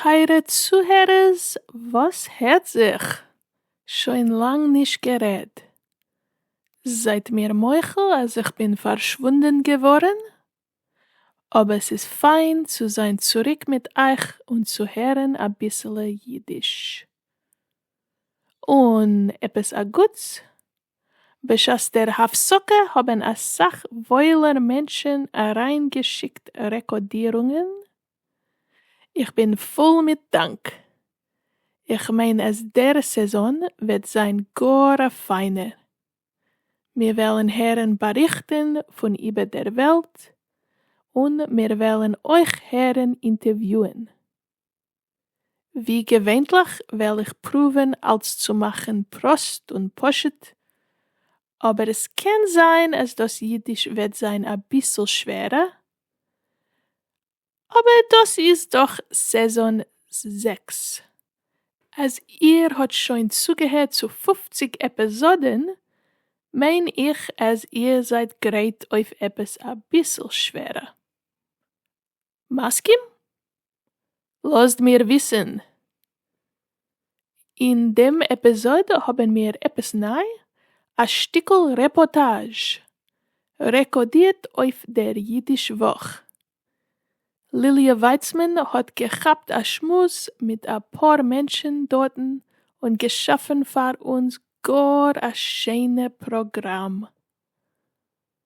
טייערע צוהערערס וואס הערט זיך? שוין לאנג נישט גערעדט. זייט מיר מוחל אז איך בין פארשוואונדען געווארן אבער ס'איז פיין צו זיין צוריק מיט אייך און צו הערן אביסעלע אידיש. און עפעס א גוטס, בשעת דער הפסקה האבן אסאך וואוילער מענטשן אריין געשיקט רעקאדירונגען, איך בין פול מיט דאנק, איך מיין אז דער סעזאן וועט זיין גאר א פיינער. מיר וועלן הערן באריכטן פון איבער דער וועלט, און מיר וועלן אויך הערן אינטערוויוען. ווי געווענליך וועל איך פרואווען אלס צו מאכן פראסט און פשוט, אבער עס קען זיין אז דאס אידיש וועט זיין אביסל שווערע, אבער דאס איז דאך סעזאן זעקס, אז איר האט שוין צוגעהערט צו פֿופֿציק עפעזאדען מיין איך אז איר זייט גרייט אויף עפעס אביסל שווערע. מסכים? לאזט מיר וויסען אין דעם עפּיזאָד האָבן מיר עפּעס נײַ, אַ שטיקל רעפּאָרטאַזש, רעקאָרדירט אויף דער ייִדיש וואָך. ליליע ווײַצמאַן האָט געכאַפּט אַ שמועס מיט אַ פּאָר מענטשן דאָרטן און געשאַפֿן פֿאַר אונדז גאָר אַ שיינע פּראָגראַם.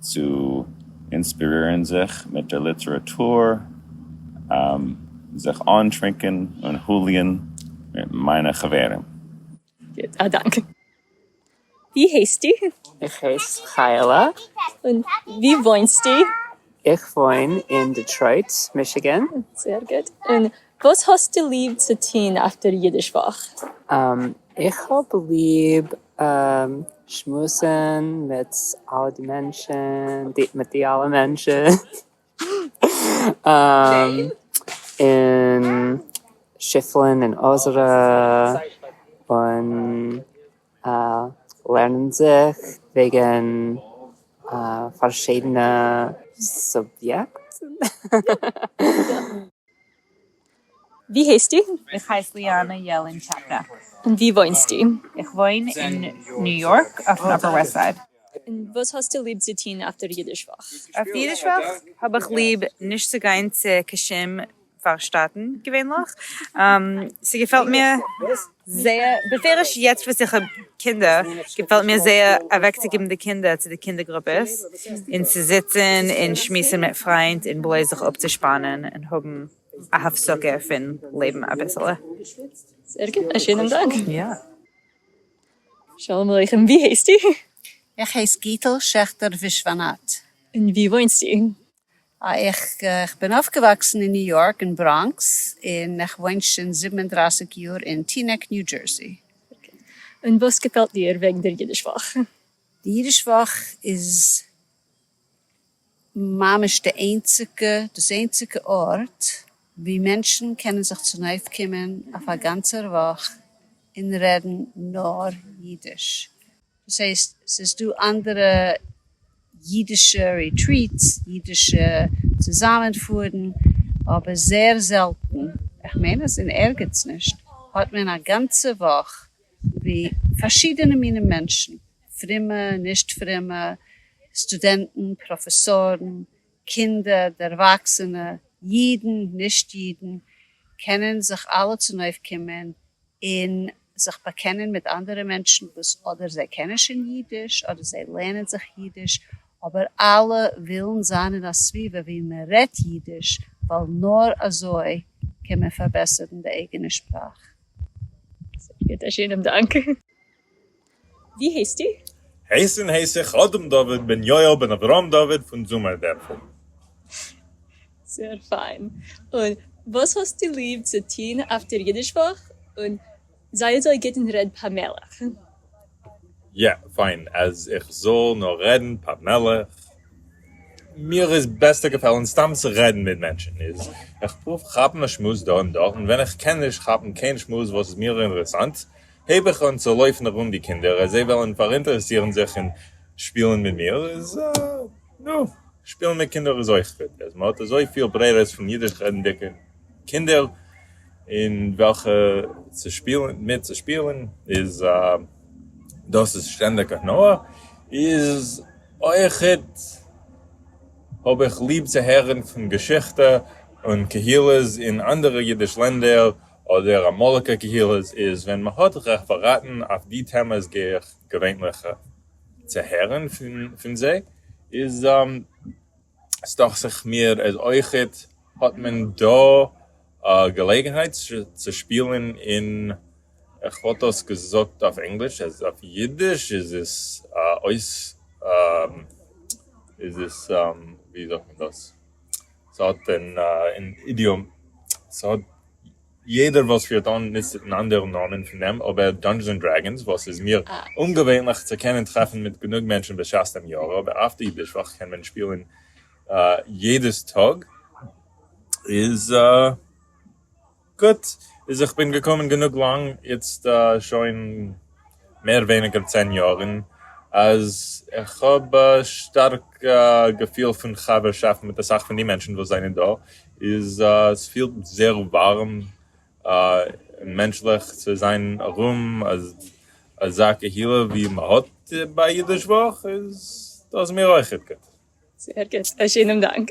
צו אינספירירן זיך מיט דער ליטעראטור, זיך אנטרינקען און הוליען מיט מיינע חברים. גוט, א דאנק. ווי הייסטו? איך הייס חיה'לע. און ווי וואוינסטו? איך וואוין אין דעטרויט מישיגען. זייער גוט. און וואס האסטו ליב צו טון אויף דער אידיש וואך? איך האב ליב שמועסן מיט אלע די מענטשן, מיט די אלע מענטשן, און שיפלען און אזערע, און אה, לערנען זיך וועגן אה פארשידענע סוביעקטן. ווי הייסטו? איך הייס ליאנע יעלענטשאקע. און ווי וואוינסטו? איך וואוין אין ניו יארק אויפן אפער וועסט סייד. און וואס האסטו ליב צו טון אויף דער אידיש וואך? אויף אידיש וואך האב איך ליב נישט צו גיין צו קיין שום פארשטאטן געווענליך. ס'געפעלט מיר זייער בפירוש יעצט וואס איך האב קינדער געפעלט מיר זייער אוועקצוגעבן די קינדער צו די קינדער גרופעס און צו זיצן און שמועסן מיט פריינט און בלויז זיך אפצושפאנען און האבן א הפסקה פון לעבן אביסעלע. זייער גוט, א שענעם דאנק. שלום עליכם, ווי הייסטו? איך הייס גיטל שעכטער ווישוואנאט. און ווי וואוינסטו? איך בין אויפגעוואקסן אין ניו יארק אין בראנקס און איך וואוין שוין זיבן און דרײַסיק יאר אין טינעק ניו דזשערסי. און וואס געפעלט דיר וועגן דער אידיש וואך? די אידיש וואך איז ממש די איינציגע דאס איינציגע ארט ווי מענטשן קענען זיך צונויפקומען אויף א גאנצער וואך און רעדן נאר אידיש. דאס הייסט ס'איז דא אנדערע אידישע ריטריטס, אידישע צוזאמען פארן, אבער זעהר זעלטן, איך מיין אז אין ערגעץ נישט, האט מען א גאנצע וואך ווי פארשידענע מינים מענטשן, פרומע, נישט פרומע, סטודענטן, פראפעסארן, קינדער, דערוואקסענע, אידן, נישט אידן, קענען זיך אלע צונויפקומען און זיך באקענען מיט אנדערע מענטשן וואס אדער זיי קענען שוין אידיש אדער זיי לערנען זיך אידיש, אבער אלע ווילן זיין אין א סביבה ווי מען רעדט אידיש ווייל נאר אזוי קען מען פארבעסערן די אייגענע שפראך. ווי הייסטו? הייסן הייס איך אדם דוד בן יואל בן אברהם דוד פון זומער דערפל. זייער פיין. און וואס האסטו ליב צו טון אויף דער אידיש וואך? און זיי אזוי גוט און רעד פאמעליך. יא, פיין אז איך זאל נאר רעדן פאמעליך. מיר איז בעסטער געפעלן סתם צו רעדן מיט מענטשן. איז איך פרואוו כאפן א שמועס דא און דארט, און ווען איך קען נישט כאפן קיין שמועס וואס איז מיר אינרעסאנט, הייב איך אן צו לויפן ארום די קינדער אז זיי וועלן פאראינטערעסירן זיך און שפילן מיט מיר, איז נו, שפילן מיט קינדער איז אויך גוט, אז מ'האט אזויפיל ברירות פון אידיש רעדנדיגע קינדער אין וועלכע צו שפילן, מיט צו שפילן, איז דאס איז שטענדיג הנאה, איז אויך גוט האב איך ליב צו הערן פון געשיכטע און קהילות אין אנדערע אידיש לענדער, אדער אמאליגע קהילות איז ווען מען האט רעפעראטן אויף די טעמעס גיי איך געווענליך צו הערן פון זיי איז סדאכט זיך מיר אז אויכעט האט מען דא א געלעגנהייט צו שפילן אין איך וואלט דאס געזאגט אויף ענגליש אז אויף אידיש איז עס אויס איז עס ווי זאגט מען דאס. ס'האט אן אידיאם, ס'האט יעדער וואס פירט אן נישט אן אנדערע נאמען פון דעם אבער דאנדזשענס און דרעגאנס וואס איז מיר אומגעווענליך צו קענען טרעפן מיט גענוג מענטשן בשעת דעם יאר אבער אויף די אידיש וואך קען מען שפילן יעדעס טאג איז גוט איז איך בין געקומען גענוג לאנג, יעצט שוין מער ווייניגער צען יאר, און אז איך האב א שטארק געפיל פון חבר'שאפט מיט אסאך פון די מענטשן וואס זענען דא, איז עס פילט זייער ווארעם און מענטשליך צו זיין ארום אזא קהילה ווי מען האט ביי אידיש וואך, איז דאס מיר אויכעט גוט. זייער גוט, א שענעם דאנק.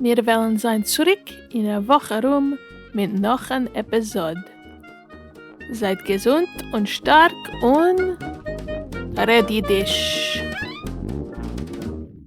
מיר וועלן זיין צוריק אין א וואך ארום מיט נאך אן עפיזאד. זייט געזונט און שטארק און רעד אידיש!